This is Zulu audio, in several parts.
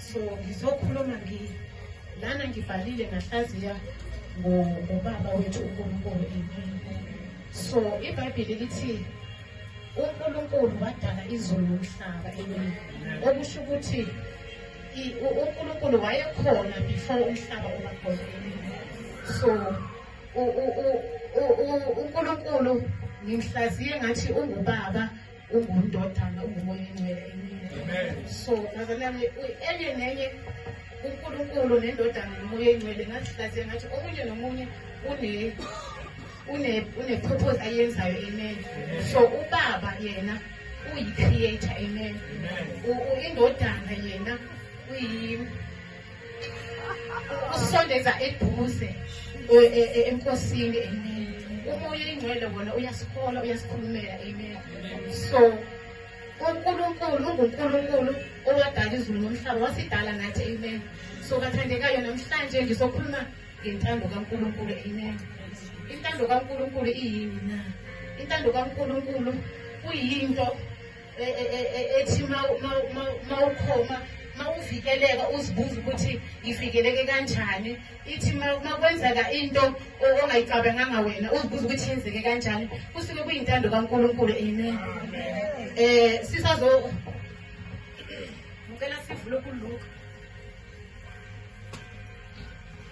so ngizokhuluma ngi lana ngivalile ngahlaziya ngobaba wethu uNkulunkulu empini so iBhayibheli lithi uNkulunkulu wadala izulu nomhlaba empini okusho ukuthi uNkulunkulu wayekhona before umhlaba uba khona so uNkulunkulu ngimhlaziye ngathi ungubaba ungundodana ungumoya ingcwele emini so nazali yami enye nenye unkulunkulu nendodana nomoya ingcwele ngazihlaziya ngathi omunye nomunye une-purpose ayenzayo amen so ubaba yena uyi-creator amen indodana yena uyi usondeza eduze e, e, e, enkosini amen umoya ingcwele wona uyasihola uyasikhulumela amen so uNkulunkulu unguNkulunkulu owadala izulu nomhlaba wasidala nathi amen so kathandekayo namhlanje ngizokhuluma ngentando kaNkulunkulu amen intando kaNkulunkulu iyini na intando kaNkulunkulu kuyinto e, e, e, ethi mawukhoma mawuvikeleka uzibuza ukuthi ngivikeleke kanjani ithi makwenzeka into ongayicabanganga wena uzibuza ukuthi yenzeke kanjani kusuke kuyintando kankulunkulu amen eh sisazo ngicela sivule kuluka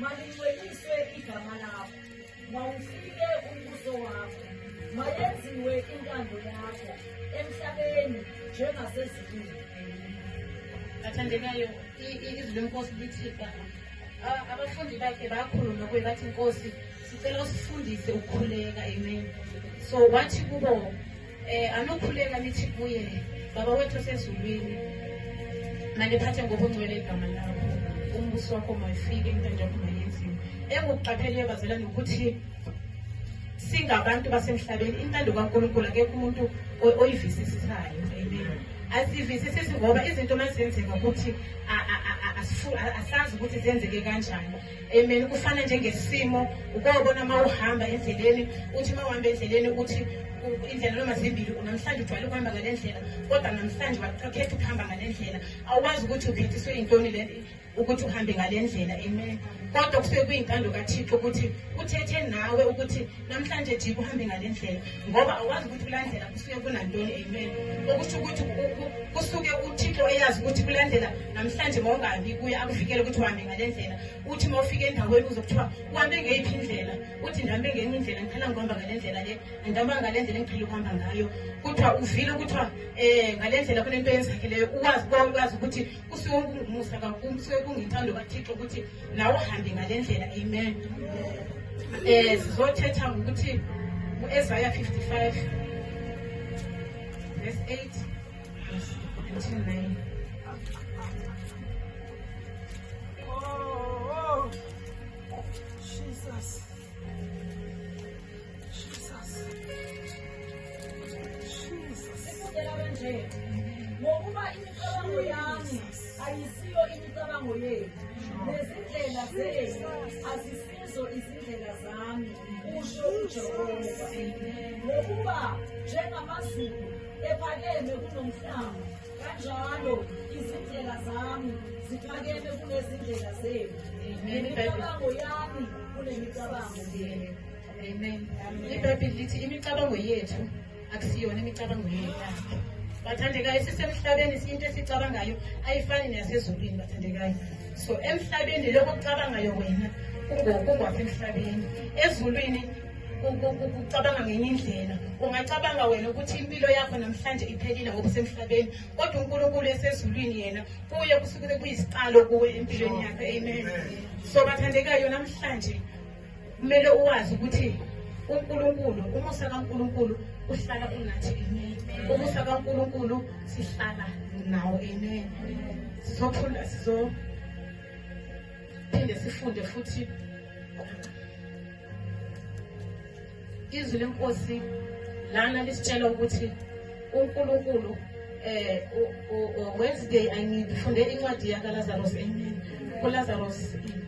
Malingcweliswe igama lakho, mawufike umbuso wakho, mayenziwe intando yakho emhlabeni njengasezulwini. Athandekayo, izwi lenkosi lithi abafundi bakhe bakhuluma kuye bathi nkosi sicela usifundise ukukhuleka amen so wathi kubo Eh anokhuleka nithi kuye baba wethu osezulwini mandiphathe ngobungcwele igama lakho umbuso wakho mayifike into njengoba mayenziwe engukuqapheleyo bazalwane ukuthi singabantu basemhlabeni intando kaNkulunkulu akekho umuntu oyivisisisayo amen asivisisisi ngoba izinto mazenzeka ukuthi asazi ukuthi zenzeke kanjani Amen. Kufana njengesimo ukobona uma uhamba endleleni uthi uma uhamba endleleni uthi indlela noma zimbili namhlanje ujwayele ukuhamba ngale ndlela kodwa namhlanje wakhetha ukuhamba ngale ndlela awukwazi ukuthi uphethiswe yintoni le ukuthi uhambe ngale ndlela amen kodwa kusuke kuyintando kathixo ukuthi uthethe nawe ukuthi namhlanje jika uhambe ngale ndlela ngoba awazi ukuthi kulandela kusuke kunantoni amen okusho ukuthi kusuke uthixo eyazi ukuthi kulandela namhlanje mawungabi kuye akuvikele ukuthi uhambe ngale ndlela uthi uma ufika endaweni uze kuthiwa uhambe ngeyiphi indlela uthi ndihambe ngenye indlela ngiqhela ngihamba ngale ndlela le ngihamba ngale ndlela engiqhela ukuhamba ngayo kuthiwa uvile kuthiwa um ngale ndlela kunento yenzakeleyo uwazi kwazi ukuthi kusuke kungumusa kakhulu kusuke kungithando kathixo ukuthi nawe uhambe ngale ndlela amen um eh, sizothetha ngokuthi u-ezaya 55 verse 8 until 9 Oh, oh, Jesus. ngokuba imicabango yami ayisiyo imicabango yenu nezindlela zenu azisizo izindlela zami kusho ujehova ngokuba njengamazulu ephakeme kunomhlaba kanjalo izindlela zami ziphakeme kunezindlela zenu nemicabango yami kunemicabango yenu Amen. IBhayibheli lithi imicabango yethu akusiyona imicabango yethu. Bathandekayo sisemhlabeni into esicabangayo ayifani nasezulwini bathandekayo. So emhlabeni lokho kucabangayo wena kungokwasemhlabeni. Ezulwini ukucabanga ngenye indlela ungacabanga wena ukuthi impilo yakho namhlanje iphelile ngokusemhlabeni kodwa unkulunkulu esezulwini yena kuye kusuke kuyisiqalo kuwe empilweni yakho amen so bathandekayo namhlanje kumele uwazi ukuthi uNkulunkulu umusa kaNkulunkulu uhlala unathi amen umusa kaNkulunkulu sihlala nawo amen sizophula sizo phinde sifunde futhi Izwi lenkosi lana lisitshela ukuthi uNkulunkulu eh Wednesday angifunde incwadi yakaLazarus amen kuLazarus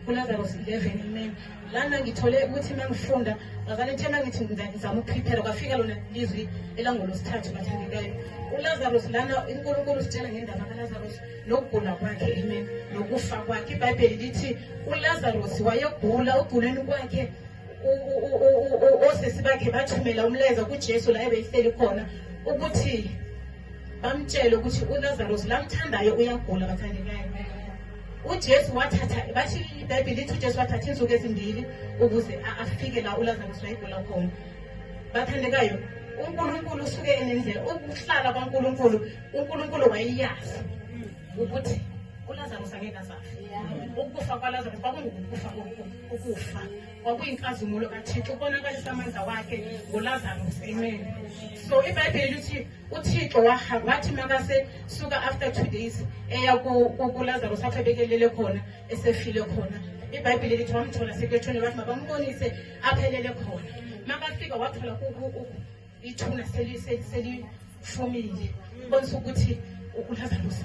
kuLazarus 11 amen lana ngithole ukuthi mangifunda ngazane thema ngithi ngizama ukuprepare kwafika lona lizwi elangolosithathu bathandekayo uLazarus lana uNkulunkulu usitshela ngendaba kaLazarus nokugula kwakhe amen nokufa kwakhe iBhayibheli lithi uLazarus wayegula oguleni kwakhe osisi bakhe bathumela umlayezo kujesu la ebeyihleli khona ukuthi bamtshele ukuthi ulazaros lamthandayo uyagula bathandekayo ujesu wathatha bathi ibhayibhile lithi ujesu wathatha iinsuku ezimbili ukuze afike la ulazaros wayegula khona bathandekayo unkulunkulu usuke enendlela ukuhlala kwankulunkulu unkulunkulu wayeyazi ukuthi ulazaros angeke azafe ukufa kwalazaros kwakungukufa kokufa ukufa kwakuyinkazimulo kathixo ubonakalisa amandla wakhe ngolazarus amen so ibhayibheli lithi uthixo wathi makase suka after two days eya kulazarus apho ebekelele khona esefile khona ibhayibheli lithi wamthola sekwethuni wathi mabambonise aphelele khona makafika wathola ithuna selifumile bonisa ukuthi ulazarus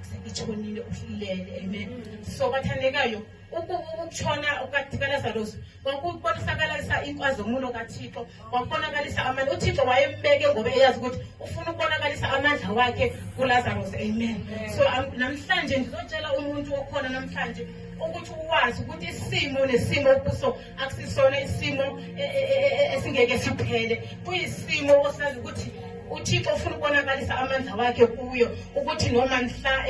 selithonile ulele amen so bathandekayo ukutshona kukathikalazarusi kwakubonakalisa inkazimulo kathixo kwakubonakalisa amandla uthixo wayembeke ngoba eyazi ukuthi ufuna ukubonakalisa amandla wakhe kulazarus amen so namhlanje ndizotshela umuntu okhona namhlanje ukuthi uwazi ukuthi isimo nesimo okuso akusisona isimo e, e, e, esingeke siphele kuyisimo osazi ukuthi uthixo ufuna ukubonakalisa amandla wakhe kuyo ukuthi noma mhla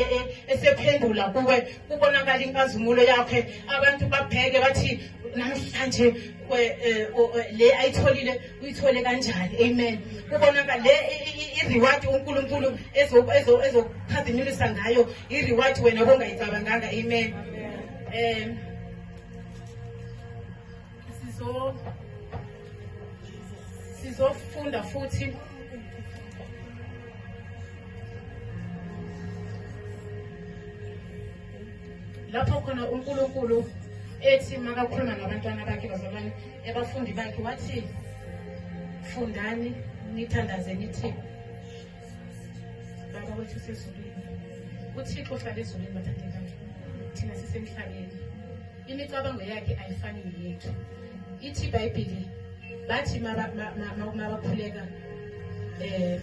esephendula kuwe kubonakala inkazimulo yakhe abantu babheke bathi namhlanje eh, le ayitholile uyithole kanjani amen kubonaka le i-reward unkulunkulu ezokukhazimulisa ngayo i-reward wena bongayicabanganga amen um sizo sizofunda futhi lapho khona uNkulunkulu ethi makakhuluma nabantwana bakhe bazalwane ebafundi bakhe wathi fundani nithandaze nithi baba wethu sezulwini uthixo uhlala ezulwini bathandekayo thina sisemhlabeni imicabango yakhe ayifani neyethu ithi ibhayibhili bathi mabakhuleka um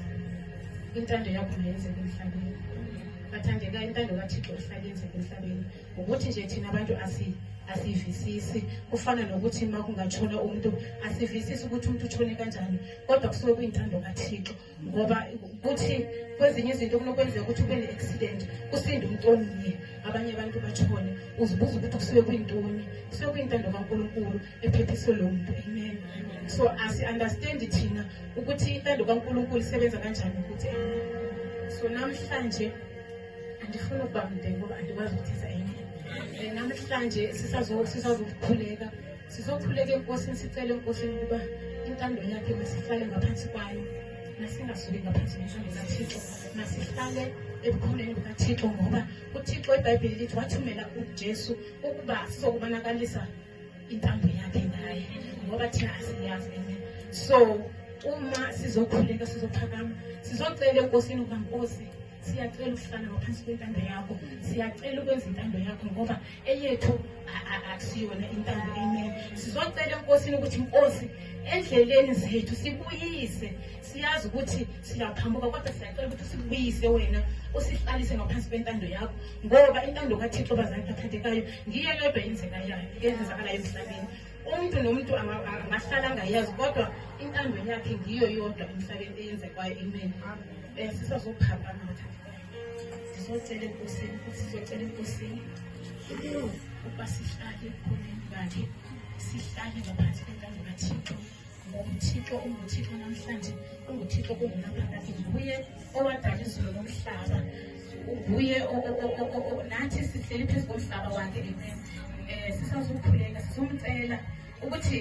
intando yakho mayenzeka emhlabeni bathandeka intando kathixo ihlale yenzeka emhlabeni ukuthi nje thina abantu asiyivisisi kufana nokuthi uma kungatshona umuntu asivisisi ukuthi umuntu utshone kanjani kodwa kusuke kuyintando kathixo ngoba kuthi kwezinye izinto kunokwenzeka ukuthi ube ne-accident kusinde umuntu omunye abanye abantu bashone uzibuza ukuthi kusuke kuyintoni kusuke kuyintando kankulunkulu ephephiswe lo muntu amen so asi-understandi thina ukuthi intando kankulunkulu isebenza kanjani ukuthi amen so namhlanje andifuni ukuba mde ngoba andikwazi ukuthetha amen namhlanje sisazokukhuleka Sizokhuleka enkosini sicele enkosini ukuba intando yakhe masihlale ngaphansi kwayo nasingasuki ngaphansi nentando kathixo masihlale ebukhoneni bukathixo ngoba uthixo ibhayibheli lithi wathumela ujesu ukuba sizokubonakalisa intando yakhe ngaye ngoba thina asiyazi enye so uma sizokhuleka sizophakama sizocela enkosini ukuba nkosi siyacela ukuhlala ngaphansi kwentando yakho siyacela ukwenza intando yakho ngoba eyethu akusiyona intando amen sizocela enkosini ukuthi inkosi endleleni zethu sibuyise siyazi ukuthi siyaphambuka kodwa siyacela ukuthi usibuyise wena usihlalise ngaphansi kwentando yakho ngoba intando kathixo bazali bathathekayo ngiyo yodwa yenzeka yayo yenzakalayo emhlabeni umuntu nomuntu angahlala angayazi kodwa intando yakhe ngiyo yodwa emhlabeni eyenze kwayo imeni eh, sisazophakamaka sizocela enkosini ukuthi sizocela enkosini ukuba sihlale ekhoneni lakhe sihlale ngaphansi kwentando kathixo ngoMthixo unguThixo namhlanje unguThixo kungunaphakade nguye owadala izulu nomhlaba nguye nathi sihleli phezu komhlaba wakhe amen um sisazokhuleka sizomcela ukuthi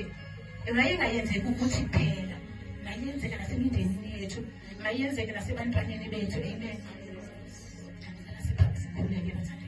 mayingayenzeki ukuthi kuphela mayenzeke nasemindenini yethu mayenzeke nasebantwaneni bethu amen sikhuleke bathanda